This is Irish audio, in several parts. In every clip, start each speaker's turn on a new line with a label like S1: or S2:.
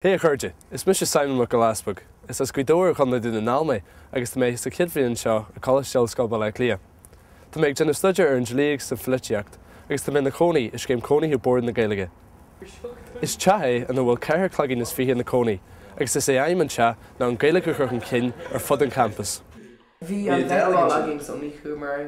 S1: Hé a chairde, is mise Simon Mac Giolla Easpaig. Is as Gaoth Dobhair i gContae Dún na nGall mé agus tá mé sa chéad bhliain anseo i Coláiste Ollscoile Baile Átha Cliath. Tá mé ag déanamh staidéar ar an dlí agus an pholaitíocht agus tá mé i mo chónaí i Scéim Cónaithe Bhord na Gaeilge. Is teach é ina bhfuil ceithre chloigeann is fiche ina gcónaí agus is é aidhm an teach ná an Ghaeilge a chur chun cinn ar fud an champus. Bhí an deis dá leagan againn so ní chuamar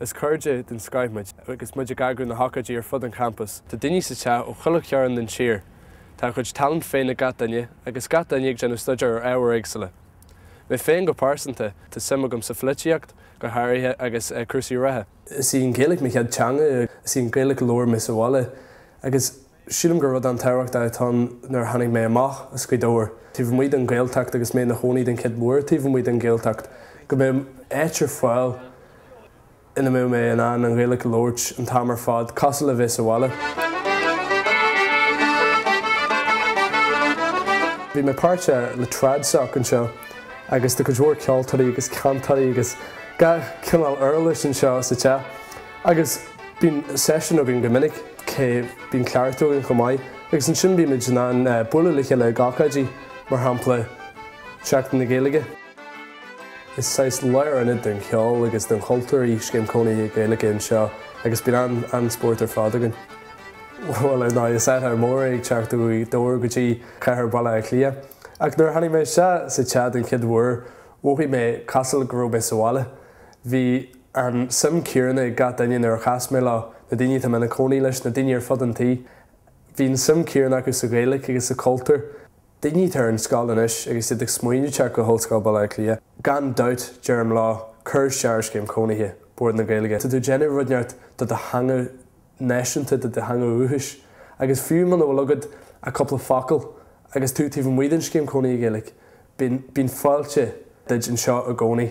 S1: Is cairde den scoith muid agus muid ag eagrú na hócáidí ar fud an champus. Tá daoine sa teach ó chuile chearn den tír. Tá a chuid tallann féin ag gach duine agus gach duine ag déanamh staidéar ar ábhair éagsúla. Mé féin go pearsanta, tá suim agam sa pholaitíocht, go háirithe, agus cúrsaí reatha. Is í an Ghaeilge mo chéad teanga, is í an Ghaeilge a labhair mé sa bhaile, agus Sílim gur rud an-tábhachtach atá ann nuair a tháinig mé amach as Gaoth Dobhair, taobh amuigh den Ghaeltacht agus mé i mo chónaí den chéad uair taobh amuigh den Ghaeltacht, go mbeadh áit ar fáil ina mbeadh mé in ann an Ghaeilge a labhairt an t-am ar fad, cosúil le bheith sa bhaile. Bím páirteach le TradSoc anseo agus tá cuid mhór ceoltóirí agus cantairí agus gach cineál uirlis anseo sa teach agus. Bíonn seisiúin againn go minic, bíonn cleachtaí againn chomh maith, agus ansin bímid in ann bualadh le chéile ag ócáidí, mar shampla Seachtain na Gaeilge. Is saghas lárionad den cheol agus den chultúr í Scéim Cónaithe Gaeilge anseo agus bíonn an-spórt ar fad againn. Bhuel, ar ndóigh, is athrú mór é ag teacht ó Ghaoth Dobhair go dtí cathair Bhaile Átha Cliath, ach nuair a tháinig mé isteach sa teach den chéad uair, mhothaigh mé cosúil go raibh mé sa bhaile. Bhí. An suim chéanna ag gach duine nuair a chas mé leo, na daoine atá mé i mo chónaí leis, na daoine ar fud an tí. Bhí an suim chéanna acu sa Ghaeilge agus sa chultúr. Daoine atá ar an scoil anois agus iad ag smaoineamh teacht go hOllscoil Bhaile Átha Cliath. Gan dabht, deirim leo, cuir isteach ar Scéim Cónaithe Bhord na Gaeilge. Tá tú ag déanamh rud ceart do do theanga náisiúnta, do do theanga dhúchais. Agus fiú muna bhfuil agat ach cúpla focal agus tú taobh amuigh den Scéim Cónaithe Gaeilge, bíonn fáilte duit anseo i gcónaí.